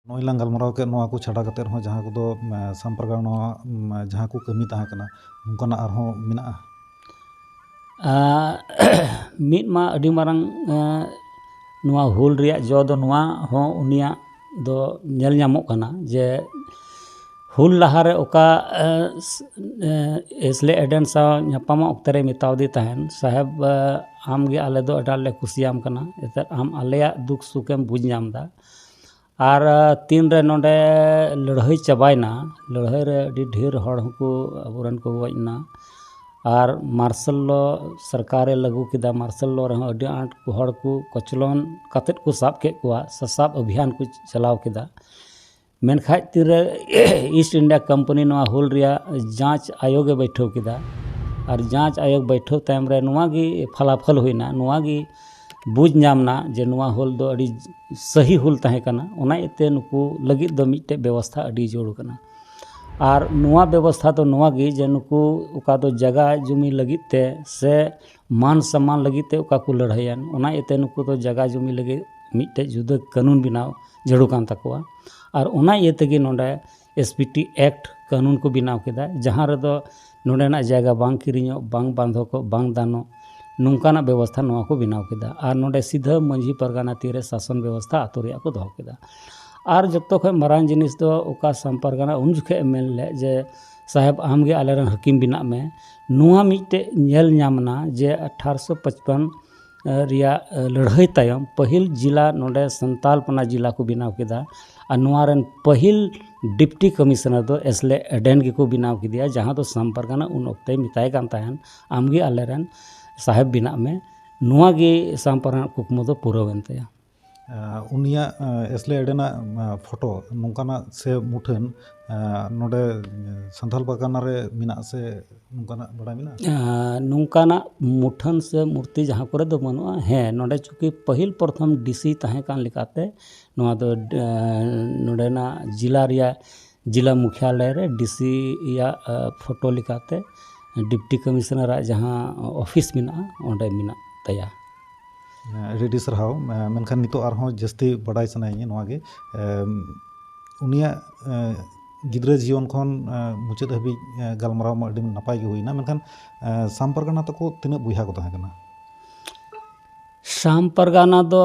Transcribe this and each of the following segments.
ᱱᱚᱜᱼᱚᱭ ᱞᱟᱝ ᱜᱟᱞᱢᱟᱨᱟᱣ ᱠᱮᱫ ᱱᱚᱣᱟ ᱠᱚ ᱪᱷᱟᱰᱟ ᱠᱟᱛᱮ ᱦᱚᱸ ᱡᱟᱦᱟᱸ ᱠᱚᱫᱚ ᱥᱟᱢ ᱯᱟᱨᱜᱟᱱᱟ ᱡᱟᱦᱟᱸ ᱠᱚ ᱠᱟᱹᱢᱤ ᱛᱟᱦᱮᱸ ᱠᱟᱱᱟ ᱚᱱᱠᱟᱱᱟᱜ ᱟᱨᱦᱚᱸ ᱢᱮᱱᱟᱜᱼᱟ ᱢᱤᱫ ᱢᱟ ᱟᱹᱰᱤ ᱢᱟᱨᱟᱝ ᱱᱚᱣᱟ ᱦᱩᱞ ᱨᱮᱭᱟᱜ ᱡᱚ ᱫᱚ ᱱᱚᱣᱟ ᱦᱚᱸ ᱩᱱᱤᱭᱟᱜ ᱫᱚ ᱧᱮᱞ ᱧᱟᱢᱚᱜ ᱠᱟᱱᱟ ᱡᱮ ᱦᱩᱞ ᱞᱟᱦᱟᱨᱮ ᱚᱠᱟ ᱮᱥᱞᱮ ᱮᱰᱮᱱ ᱥᱟᱶ ᱧᱟᱯᱟᱢᱚᱜ ᱚᱠᱛᱚ ᱨᱮ ᱢᱮᱛᱟᱣᱟᱫᱮ ᱛᱟᱦᱮᱱ ᱥᱟᱦᱮᱵᱽ ᱟᱢᱜᱮ ᱟᱞᱮ ᱫᱚ ᱟᱹᱰᱤ ᱟᱸᱴᱞᱮ ᱠᱩᱥᱤᱭᱟᱢ ᱠᱟᱱᱟ ᱮᱱᱛᱮᱫ ᱟᱢ ᱟᱞᱮᱭᱟᱜ ᱫᱩᱠᱷ ᱥᱩᱠᱷᱮᱢ ᱵᱩᱡᱽ ᱧᱟᱢᱫᱟ ᱟᱨ ᱛᱤᱱ ᱨᱮ ᱱᱚᱸᱰᱮ ᱞᱟᱹᱲᱦᱟᱹᱭ ᱪᱟᱵᱟᱭᱮᱱᱟ ᱞᱟᱹᱲᱦᱟᱹᱭ ᱨᱮ ᱟᱹᱰᱤ ᱰᱷᱮᱨ ᱦᱚᱲ ᱦᱚᱸ ᱠᱚ ᱟᱵᱚ ᱨᱮᱱ ᱠᱚ ᱜᱚᱡ ᱮᱱᱟ ᱟᱨ ᱢᱟᱨᱥᱟᱞ ᱞᱚ ᱥᱚᱨᱠᱟᱨᱮ ᱞᱟᱹᱜᱩ ᱠᱮᱫᱟ ᱢᱟᱨᱥᱟᱞ ᱞᱚ ᱨᱮᱦᱚᱸ ᱟᱹᱰᱤ ᱟᱸᱴ ᱦᱚᱲ ᱠᱚ ᱠᱚᱪᱞᱚᱱ ᱠᱟᱛᱮᱫ ᱠᱚ ᱥᱟᱵ ᱠᱮᱫ ᱠᱚᱣᱟ ᱥᱟᱥᱟᱵ ᱚᱵᱷᱤᱡᱟᱱ ᱠᱚ ᱪᱟᱞᱟᱣ ᱠᱮᱫᱟ ᱢᱮᱱᱠᱷᱟᱱ ᱛᱤᱱ ᱨᱮ ᱤᱥᱴ ᱤᱱᱰᱤᱭᱟ ᱠᱳᱢᱯᱟᱹᱱᱤ ᱱᱚᱣᱟ ᱦᱩᱞ ᱨᱮᱭᱟᱜ ᱡᱟᱸᱪ ᱟᱭᱳᱜᱽ ᱮ ᱵᱟᱹᱭᱴᱷᱟᱹᱣ ᱠᱮᱫᱟ ᱟᱨ ᱡᱟᱸᱪ ᱟᱭᱳᱜᱽ ᱵᱟᱹᱭᱴᱷᱟᱹᱣ ᱛᱟᱭᱚᱢ ᱨᱮ ᱱᱚᱣᱟ ᱜᱮ ᱯᱷᱚᱞᱟᱯᱷᱚᱞ ᱦᱩᱭᱮᱱᱟ ᱱᱚᱣᱟ ᱜᱮ ᱵᱩᱡᱽ ᱧᱟᱢ ᱮᱱᱟ ᱡᱮ ᱱᱚᱣᱟ ᱦᱩᱞ ᱫᱚ ᱟᱹᱰᱤ ᱥᱟᱹᱦᱤ ᱦᱩᱞ ᱛᱟᱦᱮᱸ ᱠᱟᱱᱟ ᱚᱱᱟ ᱤᱭᱟᱹ ᱛᱮ ᱱᱩᱠᱩ ᱞᱟᱹᱜᱤᱫ ᱫᱚ ᱢᱤᱫᱴᱮᱱ ᱵᱮᱵᱚᱥᱛᱷᱟ ᱟᱹᱰᱤ ᱡᱟᱹᱨᱩᱲ ᱠᱟᱱᱟ ᱟᱨ ᱱᱚᱣᱟ ᱵᱮᱵᱚᱥᱛᱷᱟ ᱫᱚ ᱱᱚᱣᱟ ᱜᱮ ᱡᱮ ᱱᱩᱠᱩ ᱚᱠᱟ ᱫᱚ ᱡᱟᱭᱜᱟ ᱡᱚᱢᱤ ᱞᱟᱹᱜᱤᱫ ᱛᱮ ᱥᱮ ᱢᱟᱱ ᱥᱚᱱᱢᱟᱱ ᱞᱟᱹᱜᱤᱫ ᱛᱮ ᱚᱠᱟ ᱠᱚ ᱞᱟᱹᱲᱦᱟᱹᱭᱟ ᱚᱱᱟ ᱤᱭᱟᱹ ᱛᱮ ᱱᱩᱠᱩ ᱫᱚ ᱡᱟᱭᱜᱟ ᱡᱚᱢᱤ ᱞᱟᱹᱜᱤᱫ ᱢᱤᱫᱴᱮᱱ ᱡᱩᱫᱟᱹ ᱠᱟᱹᱱᱩᱱ ᱵᱮᱱᱟᱣ ᱡᱟᱹᱨᱩᱲ ᱠᱟᱱ ᱛᱟᱠᱚᱣᱟ ᱟᱨ ᱚᱱᱟ ᱤᱭᱟᱹ ᱛᱮᱜᱮ ᱱᱚᱰᱮ ᱮᱥ ᱯᱤ ᱴᱤ ᱮᱠᱴ ᱠᱟᱹᱱᱩᱱ ᱠᱚ ᱵᱮᱱᱟᱣ ᱠᱮᱫᱟ ᱡᱟᱦᱟᱸ ᱨᱮᱫᱚ ᱱᱚᱰᱮᱱᱟᱜ ᱡᱟᱭᱜᱟ ᱵᱟᱝ ᱠᱤᱨᱤᱧᱚᱜ ᱵᱟᱝ ᱵᱟᱱᱫᱷᱚᱠᱚᱜ ᱵᱟᱝ ᱫᱟᱱᱚᱜ ᱱᱚᱝᱠᱟᱱᱟᱜ ᱵᱮᱵᱚᱥᱛᱷᱟ ᱱᱚᱣᱟ ᱠᱚ ᱵᱮᱱᱟᱣ ᱠᱮᱫᱟ ᱟᱨ ᱱᱚᱰᱮ ᱥᱤᱫᱷᱟᱹ ᱢᱟᱹᱡᱷᱤ ᱯᱟᱨᱜᱟᱱᱟ ᱛᱤ ᱨᱮ ᱥᱟᱥᱚᱱ ᱵᱮᱵᱚᱥᱛᱷᱟ ᱟᱹᱛᱩ ᱨᱮᱭᱟᱜ ᱠᱚ ᱫᱚᱦᱚ ᱠᱮᱫᱟ ᱟᱨ ᱡᱚᱛᱚ ᱠᱷᱚᱱ ᱢᱟᱨᱟᱝ ᱡᱤᱱᱤᱥ ᱫᱚ ᱚᱠᱟ ᱥᱟᱢ ᱯᱟᱨᱜᱟᱱᱟ ᱩᱱ ᱡᱚᱠᱷᱚᱱᱮ ᱢᱮᱱ ᱞᱮᱫ ᱡᱮ ᱥᱟᱦᱮᱵᱽ ᱟᱢ ᱜᱮ ᱟᱞᱮ ᱨᱮᱱ ᱦᱟᱹᱠᱤᱢ ᱵᱮᱱᱟᱜ ᱢᱮ ᱱᱚᱣᱟ ᱢᱤᱫᱴᱮᱱ ᱧᱮᱞ ᱧᱟᱢ ᱮᱱᱟ ᱡᱮ ᱟᱴᱷᱟᱨᱚᱥᱚ ᱯᱟᱸᱪᱯᱚᱱ ᱨᱮᱭᱟᱜ ᱞᱟᱹᱲᱦᱟᱹᱭ ᱛᱟᱭᱚᱢ ᱯᱟᱹᱦᱤᱞ ᱡᱮᱞᱟ ᱱᱚᱰᱮ ᱥᱟᱱᱛᱟᱞ ᱠᱚᱱᱟ ᱡᱮᱞᱟ ᱠᱚ ᱵᱮᱱᱟᱣ ᱠᱮᱫᱟ ᱟᱨ ᱱᱚᱣᱟ ᱨᱮᱱ ᱯᱟᱹᱦᱤᱞ ᱰᱤᱯᱴᱤ ᱠᱚᱢᱤᱥᱚᱱᱟᱨ ᱫᱚ ᱮᱥᱞᱮ ᱮᱰᱮᱱ ᱜᱮᱠᱚ ᱵᱮᱱᱟᱣ ᱠᱮᱫᱮᱭᱟ ᱡᱟᱦᱟᱸ ᱫᱚ ᱥᱟᱢ ᱯᱟᱨᱜᱟᱱᱟ ᱩᱱ ᱚᱠᱛᱮᱭ ᱢᱮᱛᱟᱭ ᱠᱟᱱ ᱛᱟᱦᱮᱱ ᱟᱢ ᱜᱮ ᱟᱞᱮ ᱨᱮᱱ ᱥᱟᱦᱮᱵᱽ ᱵᱮᱱᱟᱜ ᱢᱮ ᱱᱚᱣᱟ ᱜᱮ ᱥᱟᱢ ᱯᱟᱨᱜᱟᱱᱟ ᱟᱜ ᱠᱩᱠᱢᱩ ᱫᱚ ᱯᱩᱨᱟᱹᱣᱮᱱ ᱛᱟᱭᱟ ᱩᱱᱤᱭᱟᱜ ᱮᱥᱞᱮ ᱮᱰᱮᱱᱟᱜ ᱯᱷᱳᱴᱳ ᱱᱚᱝᱠᱟᱱᱟᱜ ᱥᱮ ᱢᱩᱴᱷᱟᱹᱱ ᱱᱚᱰᱮ ᱥᱟᱱᱛᱟᱲ ᱯᱟᱨᱜᱟᱱᱟ ᱨᱮ ᱢᱮᱱᱟᱜ ᱟᱥᱮ ᱱᱚᱝᱠᱟᱱᱟᱜ ᱵᱟᱲᱟᱭ ᱢᱮᱱᱟᱜᱼᱟ ᱱᱚᱝᱠᱟᱱᱟᱜ ᱢᱩᱴᱷᱟᱹᱱ ᱥᱮ ᱢᱩᱨᱛᱤ ᱡᱟᱦᱟᱸ ᱠᱚᱨᱮ ᱫᱚ ᱵᱟᱹᱱᱩᱜᱼᱟ ᱦᱮᱸ ᱱᱚᱰᱮ ᱪᱩᱠᱤ ᱯᱟᱹᱦᱤᱞ ᱯᱨᱚᱛᱷᱚᱢ ᱰᱤᱥᱤ ᱛᱟᱦᱮᱸ ᱠᱟᱱ ᱞᱮᱠᱟᱛᱮ ᱱᱚᱣᱟ ᱫᱚ ᱱᱚᱰᱮᱱᱟᱜ ᱡᱮᱞᱟ ᱨᱮᱭᱟᱜ ᱡᱮᱞᱟ ᱢᱩᱠᱷᱭᱟᱞᱚᱭ ᱨᱮ ᱰᱤ ᱥᱤ ᱭᱟᱜ ᱯᱷᱳᱴᱳ ᱞᱮᱠᱟᱛᱮ ᱰᱤᱯᱴᱤ ᱠᱚᱢᱤᱥᱚᱱᱟᱨ ᱟᱜ ᱡᱟᱦᱟᱸ ᱚᱯᱷᱤᱥ ᱢᱮᱱᱟᱜᱼᱟ ᱚᱸᱰᱮ ᱢᱮᱱᱟᱜ ᱛᱟᱭᱟ ᱟᱹᱰᱤ ᱟᱹᱰᱤ ᱥᱟᱨᱦᱟᱣ ᱢᱮᱱᱠᱷᱟᱱ ᱱᱤᱛᱚᱜ ᱟᱨᱦᱚᱸ ᱡᱟᱹᱥᱛᱤ ᱵᱟᱰᱟᱭ ᱥᱟᱱᱟᱭᱤᱧᱟᱹ ᱱᱚᱣᱟ ᱜᱮ ᱩᱱᱤᱭᱟᱜ ᱜᱤᱫᱽᱨᱟᱹ ᱡᱤᱭᱚᱱ ᱠᱷᱚᱱ ᱢᱩᱪᱟᱹᱫ ᱦᱟᱹᱵᱤᱡ ᱜᱟᱞᱢᱟᱨᱟᱣ ᱢᱟ ᱟᱹᱰᱤ ᱱᱟᱯᱟᱭ ᱜᱮ ᱦᱩᱭᱱᱟ ᱢᱮᱱᱠᱷᱟᱱ ᱥᱟᱢ ᱯᱟᱨᱜᱟᱱᱟ ᱛᱟᱠᱚ ᱛᱤᱱᱟᱹᱜ ᱵᱚᱭᱦᱟ ᱠᱚ ᱛᱟᱦᱮᱸ ᱠᱟᱱᱟ ᱥᱟᱢ ᱯᱟᱨᱜᱟᱱᱟ ᱫᱚ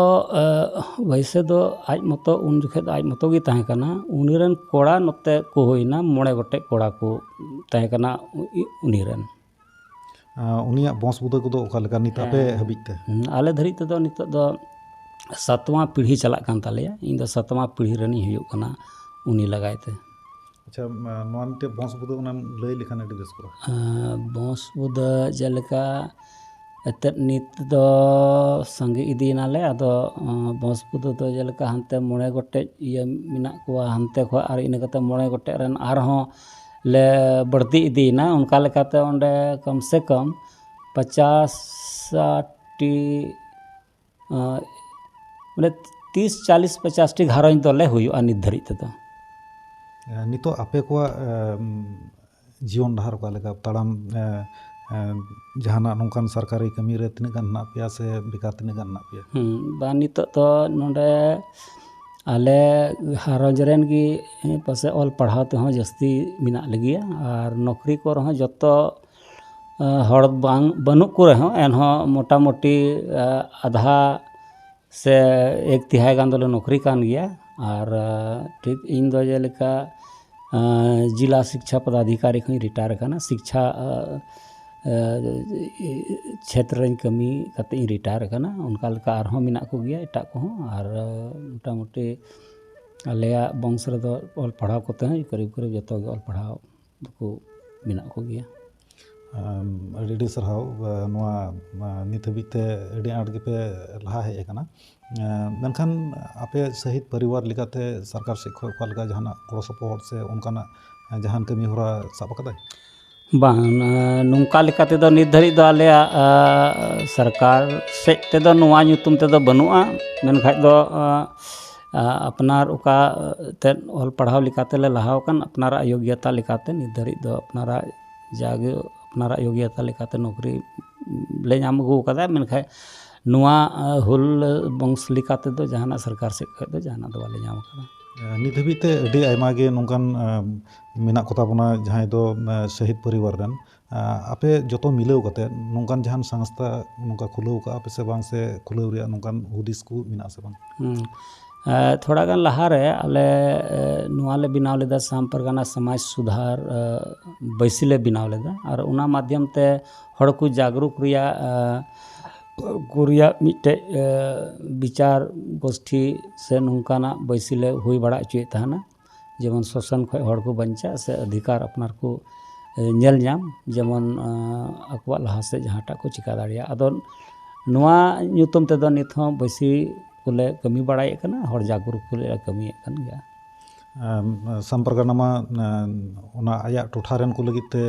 ᱵᱟᱹᱭᱥᱟᱹ ᱫᱚ ᱟᱡ ᱢᱚᱛᱚ ᱩᱱ ᱡᱚᱠᱷᱚᱱ ᱫᱚ ᱟᱡ ᱢᱚᱛᱚ ᱜᱮ ᱛᱟᱦᱮᱸ ᱠᱟᱱᱟ ᱩᱱᱤ ᱨᱮᱱ ᱠᱚᱲᱟ ᱱᱚᱛᱮ ᱠᱚ ᱦᱩᱭᱱᱟ ᱢᱚᱬᱮ ᱜᱚᱴᱮᱡ ᱠᱚᱲᱟ ᱠᱚ ᱛᱟᱦᱮᱸ ᱠᱟᱱᱟ ᱩᱱᱤ ᱨᱮᱱ ᱩᱱᱤᱭᱟᱜ ᱵᱚᱸᱥ ᱵᱩᱫᱟᱹ ᱠᱚᱫᱚ ᱚᱠᱟ ᱞᱮᱠᱟ ᱱᱤᱛ ᱟᱯᱮ ᱦᱟᱹᱵᱤᱡ ᱛᱮ ᱟᱞᱮ ᱫᱷᱟᱹᱨᱤᱡ ᱛᱮᱫᱚ ᱱᱤᱛᱚᱜ ᱫᱚ ᱥᱟᱛᱣᱟ ᱯᱤᱲᱦᱤ ᱪᱟᱞᱟᱜ ᱠᱟᱱ ᱛᱟᱞᱮᱭᱟ ᱤᱧ ᱫᱚ ᱥᱟᱛᱣᱟ ᱯᱤᱲᱦᱤ ᱨᱮᱱᱤᱧ ᱦᱩᱭᱩᱜ ᱠᱟᱱᱟ ᱩᱱᱤ ᱞᱟᱜᱟᱭ ᱛᱮ ᱟᱪᱪᱷᱟ ᱱᱚᱣᱟ ᱢᱤᱫᱴᱮᱡ ᱵᱚᱸᱥ ᱵᱩᱫᱟᱹ ᱚᱱᱟᱢ ᱞᱟᱹᱭ ᱞᱮᱠᱷᱟᱱ ᱟᱹᱰᱤ ᱵᱮᱥ ᱠᱚᱜᱼᱟ ᱵᱚᱸᱥ ᱵᱩᱫᱟᱹ ᱡᱮᱞᱮᱠᱟ ᱮᱛᱮᱫ ᱱᱤᱛ ᱫᱚ ᱥᱟᱸᱜᱮ ᱤᱫᱤᱭᱮᱱᱟᱞᱮ ᱟᱫᱚ ᱵᱚᱸᱥ ᱵᱩᱫᱟᱹ ᱫᱚ ᱡᱮᱞᱮᱠᱟ ᱦᱟᱱᱛᱮ ᱢᱚᱬᱮ ᱜᱚᱴᱮᱡ ᱤᱭᱟᱹ ᱢᱮᱱᱟᱜ ᱠᱚᱣᱟ ᱦᱟᱱᱛᱮ ᱠᱷᱚᱡ ᱟᱨ ᱤᱱᱟᱹ ᱠᱟᱛᱮ ᱢᱚᱬᱮ ᱜᱚᱴᱮᱡ ᱨᱮᱱ ᱟᱨᱦᱚᱸ ᱞᱮ ᱵᱟᱹᱲᱛᱤ ᱤᱫᱤᱭᱮᱱᱟ ᱚᱱᱠᱟ ᱞᱮᱠᱟᱛᱮ ᱚᱸᱰᱮ ᱠᱚᱢ ᱥᱮ ᱠᱚᱢ ᱯᱚᱪᱟᱥ ᱥᱟᱴ ᱴᱤ ᱵᱚᱞᱮ ᱛᱤᱨᱤᱥ ᱪᱟᱞᱤᱥ ᱯᱚᱪᱟᱥ ᱴᱤ ᱜᱷᱟᱨᱚᱸᱡᱽ ᱫᱚᱞᱮ ᱦᱩᱭᱩᱜᱼᱟ ᱱᱤᱛ ᱫᱷᱟᱹᱨᱤᱡ ᱛᱮᱫᱚ ᱱᱤᱛᱚᱜ ᱟᱯᱮ ᱠᱚᱣᱟᱜ ᱡᱤᱭᱚᱱ ᱰᱟᱦᱟᱨ ᱚᱠᱟ ᱞᱮᱠᱟ ᱛᱟᱲᱟᱢ ᱡᱟᱦᱟᱱᱟᱜ ᱱᱚᱝᱠᱟᱱ ᱥᱚᱨᱠᱟᱨᱤ ᱠᱟᱹᱢᱤ ᱨᱮ ᱛᱤᱱᱟᱹᱜ ᱜᱟᱱ ᱢᱮᱱᱟᱜ ᱯᱮᱭᱟ ᱥᱮ ᱵᱮᱠᱟᱨ ᱛᱤᱱᱟᱹᱜ ᱜᱟᱱ ᱢᱮᱱᱟᱜ ᱯᱮᱭᱟ ᱵᱟᱝ ᱱᱤᱛᱚᱜ ᱫᱚ ᱱᱚᱰᱮ ᱟᱞᱮ ᱜᱷᱟᱨᱚᱸᱡᱽ ᱨᱮᱱ ᱜᱮ ᱯᱟᱥᱮᱡ ᱚᱞ ᱯᱟᱲᱦᱟᱣ ᱛᱮᱦᱚᱸ ᱡᱟᱹᱥᱛᱤ ᱢᱮᱱᱟᱜ ᱞᱮᱜᱮᱭᱟ ᱟᱨ ᱱᱚᱠᱨᱤ ᱠᱚᱨᱮ ᱦᱚᱸ ᱡᱚᱛᱚ ᱦᱚᱲ ᱵᱟᱝ ᱵᱟᱹᱱᱩᱜ ᱠᱚ ᱨᱮᱦᱚᱸ ᱮᱱᱦᱚᱸ ᱢᱳᱴᱟᱢᱩᱴᱤ ᱟᱫᱷᱟ ᱥᱮ ᱮᱠ ᱛᱤᱦᱟᱭ ᱜᱟᱱ ᱫᱚᱞᱮ ᱱᱚᱠᱨᱤ ᱠᱟᱱ ᱜᱮᱭᱟ ᱟᱨ ᱴᱷᱤᱠ ᱤᱧ ᱫᱚ ᱡᱮᱞᱮᱠᱟ ᱡᱮᱞᱟ ᱥᱤᱠᱪᱷᱟ ᱯᱚᱫᱟᱫᱷᱤᱠᱟᱨᱤ ᱠᱷᱚᱱᱤᱧ ᱨᱤᱴᱟᱭᱟᱨ ᱠᱟᱱᱟ ᱥᱤᱠᱪᱷᱟ ᱪᱷᱮᱛᱨᱚ ᱨᱤᱧ ᱠᱟᱹᱢᱤ ᱠᱟᱛᱮ ᱤᱧ ᱨᱤᱴᱟᱭᱟᱨ ᱠᱟᱱᱟ ᱚᱱᱠᱟ ᱞᱮᱠᱟ ᱟᱨᱦᱚᱸ ᱢᱮᱱᱟᱜ ᱠᱚᱜᱮᱭᱟ ᱮᱴᱟᱜ ᱠᱚᱦᱚᱸ ᱟᱨ ᱢᱳᱴᱟᱢᱩᱴᱤ ᱟᱞᱮᱭᱟᱜ ᱵᱚᱝᱥᱚ ᱨᱮᱫᱚ ᱚᱞ ᱯᱟᱲᱦᱟᱣ ᱠᱚᱛᱮ ᱦᱚᱸ ᱠᱟᱹᱨᱤ ᱠᱚᱨᱤᱵ ᱡᱚᱛᱚ ᱜᱮ ᱚᱞ ᱯᱟᱲᱦᱟᱣ ᱫᱚᱠᱚ ᱢᱮᱱᱟᱜ ᱠᱚᱜᱮᱭᱟ ᱟᱹᱰᱤ ᱟᱹᱰᱤ ᱥᱟᱨᱦᱟᱣ ᱱᱚᱣᱟ ᱱᱤᱛ ᱦᱟᱹᱵᱤᱡ ᱛᱮ ᱟᱹᱰᱤ ᱟᱸᱴ ᱜᱮᱯᱮ ᱞᱟᱦᱟ ᱦᱮᱡ ᱠᱟᱱᱟ ᱢᱮᱱᱠᱷᱟᱱ ᱟᱯᱮ ᱥᱟᱹᱦᱤᱛ ᱯᱚᱨᱤᱵᱟᱨ ᱞᱮᱠᱟᱛᱮ ᱥᱚᱨᱠᱟᱨ ᱥᱮᱫ ᱠᱷᱚᱱ ᱚᱠᱟ ᱞᱮᱠᱟ ᱡᱟᱦᱟᱱᱟᱜ ᱜᱚᱲᱚ ᱥᱚᱯᱚᱦᱚᱫ ᱥᱮ ᱚᱱᱠᱟᱱᱟᱜ ᱡᱟᱦᱟᱱ ᱠᱟᱹᱢᱤ ᱦᱚᱨᱟ ᱥᱟᱵ ᱠᱟᱫᱟᱭ ᱵᱟᱝ ᱱᱚᱝᱠᱟ ᱞᱮᱠᱟ ᱛᱮᱫᱚ ᱱᱤᱛ ᱫᱷᱟᱹᱵᱤᱡ ᱫᱚ ᱟᱞᱮᱭᱟᱜ ᱥᱚᱨᱠᱟᱨ ᱥᱮᱫ ᱛᱮᱫᱚ ᱱᱚᱣᱟ ᱧᱩᱛᱩᱢ ᱛᱮᱫᱚ ᱵᱟᱹᱱᱩᱜᱼᱟ ᱢᱮᱱᱠᱷᱟᱱ ᱫᱚ ᱟᱯᱱᱟᱨ ᱚᱠᱟ ᱮᱱᱛᱮᱫ ᱚᱞ ᱯᱟᱲᱦᱟᱣ ᱞᱮᱠᱟ ᱛᱮᱞᱮ ᱞᱟᱦᱟᱣ ᱟᱠᱟᱱ ᱟᱯᱱᱟᱨᱟᱜ ᱡᱳᱜᱽᱜᱚᱛᱟ ᱞᱮᱠᱟᱛᱮ ᱱᱤᱛ ᱫᱷᱟᱹᱨᱤᱡ ᱫᱚ ᱟᱯᱱᱟᱨᱟᱜ ᱡᱟᱜᱮ ᱟᱯᱱᱟᱨᱟᱜ ᱡᱳᱜᱽᱜᱚᱛᱟ ᱞᱮᱠᱟᱛᱮ ᱱᱚᱠᱨᱤ ᱞᱮ ᱧᱟᱢ ᱟᱹᱜᱩ ᱟᱠᱟᱫᱟ ᱢᱮᱱᱠᱷᱟᱱ ᱱᱚᱣᱟ ᱦᱩᱞ ᱵᱚᱝᱥ ᱞᱮᱠᱟ ᱛᱮᱫᱚ ᱡᱟᱦᱟᱱᱟᱜ ᱥᱚᱨᱠᱟᱨ ᱥᱮᱫ ᱠᱷᱚᱱ ᱫᱚ ᱡᱟᱦᱟᱱᱟᱜ ᱫᱚ ᱵᱟᱞᱮ ᱧᱟᱢ ᱟᱠᱟᱫᱟ ᱱᱤᱛ ᱫᱷᱟᱹᱵᱤᱡ ᱛᱮ ᱟᱹᱰᱤ ᱟᱭᱢᱟ ᱜᱮ ᱱᱚᱝᱠᱟᱱ ᱢᱮᱱᱟᱜ ᱠᱚᱛᱟ ᱵᱚᱱᱟ ᱡᱟᱦᱟᱸᱭ ᱫᱚ ᱥᱚᱦᱤᱫᱽ ᱯᱚᱨᱤᱵᱟᱨ ᱨᱮᱱ ᱟᱯᱮ ᱡᱚᱛᱚ ᱢᱤᱞᱟᱹᱣ ᱠᱟᱛᱮ ᱱᱚᱝᱠᱟᱱ ᱡᱟᱦᱟᱱ ᱥᱚᱝᱥᱛᱷᱟ ᱱᱚᱝᱠᱟ ᱠᱷᱩᱞᱟᱹᱣ ᱠᱟᱜᱼᱟ ᱯᱮ ᱥᱮ ᱵᱟᱝ ᱥᱮ ᱠᱷᱩᱞᱟᱹᱣ ᱨᱮᱭᱟᱜ ᱱᱚᱝᱠᱟᱱ ᱦᱩᱫᱤᱥ ᱠᱚ ᱢᱮᱱᱟᱜ ᱟᱥᱮ ᱵᱟᱝ ᱛᱷᱚᱲᱟ ᱜᱟᱱ ᱞᱟᱦᱟ ᱨᱮ ᱟᱞᱮ ᱱᱚᱣᱟ ᱞᱮ ᱵᱮᱱᱟᱣ ᱞᱮᱫᱟ ᱥᱟᱢ ᱯᱟᱨᱜᱟᱱᱟ ᱥᱚᱢᱟᱡᱽ ᱥᱩᱫᱷᱟᱨ ᱵᱟᱹᱭᱥᱤ ᱞᱮ ᱵᱮᱱᱟᱣ ᱞᱮᱫᱟ ᱟᱨ ᱚᱱᱟ ᱢᱟᱫᱽᱫᱷᱚᱢ ᱛᱮ ᱦᱚᱲ ᱠᱚ ᱡᱟᱜᱽᱨᱩᱠ ᱨᱮᱭᱟᱜ ᱠᱚ ᱨᱮᱭᱟᱜ ᱢᱤᱫᱴᱮᱡ ᱵᱤᱪᱟᱨ ᱜᱳᱥᱴᱷᱤ ᱥᱮ ᱱᱚᱝᱠᱟᱱᱟᱜ ᱵᱟᱹᱭᱥᱤ ᱞᱮ ᱦᱩᱭ ᱵᱟᱲᱟ ᱦᱚᱪᱚᱭᱮᱫ ᱛᱟᱦᱮᱱᱟ ᱡᱮᱢᱚᱱ ᱥᱳᱥᱟᱱ ᱠᱷᱚᱱ ᱦᱚᱲ ᱠᱚ ᱵᱟᱧᱪᱟᱜ ᱥᱮ ᱚᱫᱷᱤᱠᱟᱨ ᱟᱯᱱᱟᱨ ᱠᱚ ᱧᱮᱞ ᱧᱟᱢ ᱡᱮᱢᱚᱱ ᱟᱠᱚᱣᱟᱜ ᱞᱟᱦᱟ ᱥᱮᱫ ᱡᱟᱦᱟᱸᱴᱟᱜ ᱠᱚ ᱪᱤᱠᱟᱹ ᱫᱟᱲᱮᱭᱟᱜ ᱟᱫᱚ ᱱᱚᱣᱟ ᱧᱩᱛᱩᱢ ᱛᱮᱫᱚ ᱱᱤᱛ ᱦᱚᱸ ᱵᱮᱥᱤ ᱠᱚᱞᱮ ᱠᱟᱹᱢᱤ ᱵᱟᱲᱟᱭᱮᱫ ᱠᱟᱱᱟ ᱦᱚᱲ ᱡᱟᱜᱽᱨᱩᱠ ᱠᱚ ᱞᱟᱹᱜᱤᱫ ᱞᱮ ᱠᱟᱹᱢᱤᱭᱮᱫ ᱠᱟᱱ ᱜᱮᱭᱟ ᱥᱟᱢ ᱯᱟᱨᱜᱟᱱᱟ ᱢᱟ ᱚᱱᱟ ᱟᱭᱟᱜ ᱴᱚᱴᱷᱟ ᱨᱮᱱ ᱠᱚ ᱞᱟᱹᱜᱤᱫ ᱛᱮ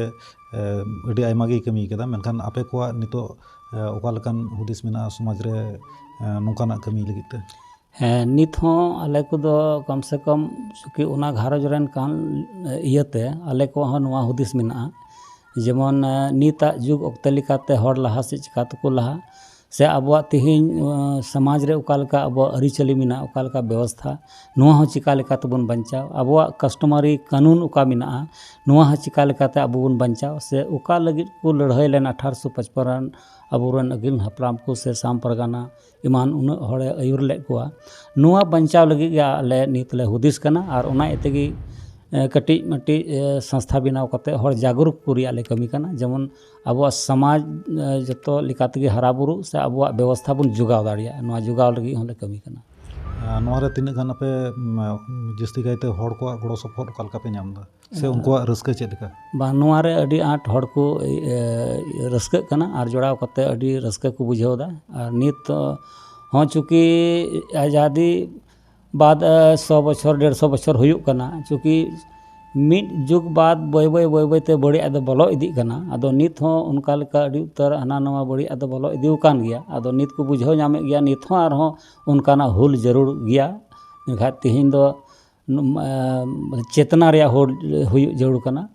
ᱟᱹᱰᱤ ᱟᱭᱢᱟ ᱜᱮᱭ ᱠᱟᱹᱢᱤ ᱠᱟᱫᱟ ᱢᱮᱱᱠᱷᱟᱱ ᱟᱯᱮ ᱠᱚᱣᱟᱜ ᱱᱤᱛᱚᱜ ᱚᱠᱟ ᱞᱮᱠᱟᱱ ᱦᱩᱫᱤᱥ ᱢᱮᱱᱟᱜᱼᱟ ᱥᱚᱢᱟᱡᱽ ᱨᱮ ᱱᱚᱝᱠᱟᱱᱟᱜ ᱠᱟᱹᱢᱤ ᱞᱟᱹᱜᱤᱫ ᱛᱮ ᱦᱮᱸ ᱱᱤᱛ ᱦᱚᱸ ᱟᱞᱮ ᱠᱚᱫᱚ ᱠᱚᱢ ᱥᱮ ᱠᱚᱢ ᱪᱩᱠᱤ ᱚᱱᱟ ᱜᱷᱟᱨᱚᱸᱡᱽ ᱨᱮᱱ ᱠᱟᱱ ᱤᱭᱟᱹᱛᱮ ᱟᱞᱮ ᱠᱚᱣᱟᱜ ᱦᱚᱸ ᱱᱚᱣᱟ ᱦᱩᱫᱤᱥ ᱢᱮᱱᱟᱜᱼᱟ ᱡᱮᱢᱚᱱ ᱱᱤᱛᱟᱜ ᱡᱩᱜᱽ ᱚᱠᱛᱮ ᱞᱮᱠᱟᱛᱮ ᱦᱚᱲ ᱞᱟᱦᱟ ᱥᱮᱫ ᱪᱤᱠᱟᱹ ᱛᱮᱠᱚ ᱞᱟᱦᱟᱜ ᱥᱮ ᱟᱵᱚᱣᱟᱜ ᱛᱮᱦᱮᱧ ᱥᱚᱢᱟᱡᱽ ᱨᱮ ᱚᱠᱟ ᱞᱮᱠᱟ ᱟᱵᱚᱣᱟᱜ ᱟᱹᱨᱤᱪᱟᱹᱞᱤ ᱢᱮᱱᱟᱜᱼᱟ ᱚᱠᱟ ᱞᱮᱠᱟ ᱵᱮᱵᱚᱥᱛᱷᱟ ᱱᱚᱣᱟ ᱦᱚᱸ ᱪᱤᱠᱟᱹ ᱞᱮᱠᱟ ᱛᱮᱵᱚᱱ ᱵᱟᱧᱪᱟᱣ ᱟᱵᱚᱣᱟᱜ ᱠᱟᱥᱴᱚᱢᱟᱨᱤ ᱠᱟᱹᱱᱩᱱ ᱚᱠᱟ ᱢᱮᱱᱟᱜᱼᱟ ᱱᱚᱣᱟ ᱦᱚᱸ ᱪᱤᱠᱟᱹ ᱞᱮᱠᱟᱛᱮ ᱟᱵᱚ ᱵᱚᱱ ᱵᱟᱧᱪᱟᱣ ᱥᱮ ᱚᱠᱟ ᱞᱟᱹᱜᱤᱫ ᱠᱚ ᱞᱟᱹᱲᱦᱟᱹᱭ ᱞᱮᱱᱟ ᱟᱴᱷᱟᱨᱚᱥᱚ ᱯᱚᱪᱯᱚᱱ ᱨᱮᱱ ᱟᱵᱚ ᱨᱮᱱ ᱟᱹᱜᱤᱞ ᱦᱟᱯᱲᱟᱢ ᱠᱚ ᱥᱮ ᱥᱟᱢ ᱯᱟᱨᱜᱟᱱᱟ ᱮᱢᱟᱱ ᱩᱱᱟᱹᱜ ᱦᱚᱲᱮ ᱟᱹᱭᱩᱨ ᱞᱮᱫ ᱠᱚᱣᱟ ᱱᱚᱣᱟ ᱵᱟᱧᱪᱟᱣ ᱞᱟᱹᱜᱤᱫ ᱜᱮ ᱟᱞᱮ ᱱᱤᱛ ᱞᱮ ᱦᱩᱫᱤᱥ ᱠᱟᱱᱟ ᱟᱨ ᱚᱱᱟ ᱤᱭᱟᱹ ᱛᱮᱜᱮ ᱠᱟᱹᱴᱤᱡ ᱢᱟᱹᱴᱤᱡ ᱥᱚᱝᱥᱛᱷᱟ ᱵᱮᱱᱟᱣ ᱠᱟᱛᱮᱫ ᱦᱚᱲ ᱡᱟᱜᱽᱨᱩᱠ ᱠᱚ ᱨᱮᱭᱟᱜ ᱞᱮ ᱠᱟᱹᱢᱤ ᱠᱟᱱᱟ ᱡᱮᱢᱚᱱ ᱟᱵᱚᱣᱟᱜ ᱥᱚᱢᱟᱡᱽ ᱡᱚᱛᱚ ᱞᱮᱠᱟ ᱛᱮᱜᱮ ᱦᱟᱨᱟ ᱵᱩᱨᱩᱜ ᱥᱮ ᱟᱵᱚᱣᱟᱜ ᱵᱮᱵᱚᱥᱛᱷᱟ ᱵᱚᱱ ᱡᱳᱜᱟᱣ ᱫᱟᱲᱮᱭᱟᱜ ᱱᱚᱣᱟ ᱡᱳᱜᱟᱣ ᱞᱟᱹᱜᱤᱫ ᱦᱚᱸᱞᱮ ᱠᱟᱹᱢᱤ ᱠᱟᱱᱟ ᱱᱚᱣᱟᱨᱮ ᱛᱤᱱᱟᱹᱜ ᱜᱟᱱ ᱟᱯᱮ ᱡᱟᱹᱥᱛᱤ ᱠᱟᱭᱛᱮ ᱦᱚᱲ ᱠᱚᱣᱟᱜ ᱜᱚᱲᱚ ᱥᱚᱯᱚᱦᱚᱫ ᱚᱠᱟ ᱞᱮᱠᱟ ᱯᱮ ᱧᱟᱢ ᱮᱫᱟ ᱥᱮ ᱩᱱᱠᱩᱣᱟᱜ ᱨᱟᱹᱥᱠᱟᱹ ᱪᱮᱫ ᱞᱮᱠᱟ ᱵᱟᱝ ᱱᱚᱣᱟ ᱨᱮ ᱟᱹᱰᱤ ᱟᱸᱴ ᱦᱚᱲ ᱠᱚ ᱨᱟᱹᱥᱠᱟᱹᱜ ᱠᱟᱱᱟ ᱟᱨ ᱡᱚᱲᱟᱣ ᱠᱟᱛᱮᱫ ᱟᱹᱰᱤ ᱨᱟᱹᱥᱠᱟᱹ ᱠᱚ ᱵᱩᱡᱷᱟᱹᱣ ᱮᱫᱟ ᱟᱨ ᱱᱤᱛ ᱦᱚᱸ ᱪᱩᱸᱠᱤ ᱟᱡᱟᱫᱤ ᱵᱟᱫ ᱥᱚ ᱵᱚᱪᱷᱚᱨ ᱰᱮᱲ ᱥᱚ ᱵᱚᱪᱷᱚᱨ ᱦᱩᱭᱩᱜ ᱠᱟᱱᱟ ᱪᱩᱸᱠᱤ ᱢᱤᱫ ᱡᱩᱜᱽ ᱵᱟᱫ ᱵᱟᱹᱭ ᱵᱟᱹᱭ ᱵᱟᱹᱭ ᱵᱟᱹᱭ ᱛᱮ ᱵᱟᱹᱲᱤᱡ ᱟᱜ ᱫᱚ ᱵᱚᱞᱚ ᱤᱫᱤᱜ ᱠᱟᱱᱟ ᱟᱫᱚ ᱱᱤᱛ ᱦᱚᱸ ᱚᱱᱠᱟ ᱞᱮᱠᱟ ᱟᱹᱰᱤ ᱩᱛᱟᱹᱨ ᱦᱟᱱᱟ ᱱᱟᱣᱟ ᱵᱟᱹᱲᱤᱡ ᱟᱜ ᱫᱚ ᱵᱚᱞᱚ ᱤᱫᱤ ᱟᱠᱟᱱ ᱜᱮᱭᱟ ᱟᱫᱚ ᱱᱤᱛ ᱠᱚ ᱵᱩᱡᱷᱟᱹᱣ ᱧᱟᱢᱮᱫ ᱜᱮᱭᱟ ᱱᱤᱛ ᱦᱚᱸ ᱟᱨᱦᱚᱸ ᱚᱱᱠᱟᱱᱟᱜ ᱦᱩᱞ ᱡᱟᱹᱨᱩᱲ ᱜᱮᱭᱟ ᱮᱱᱠᱷᱟᱱ ᱛᱮᱦᱮᱧ ᱫᱚ ᱪᱮᱛᱱᱟ ᱨᱮᱭᱟᱜ ᱦᱩᱞ ᱦᱩᱭᱩᱜ ᱡᱟᱹᱨᱩᱲ ᱠᱟᱱᱟ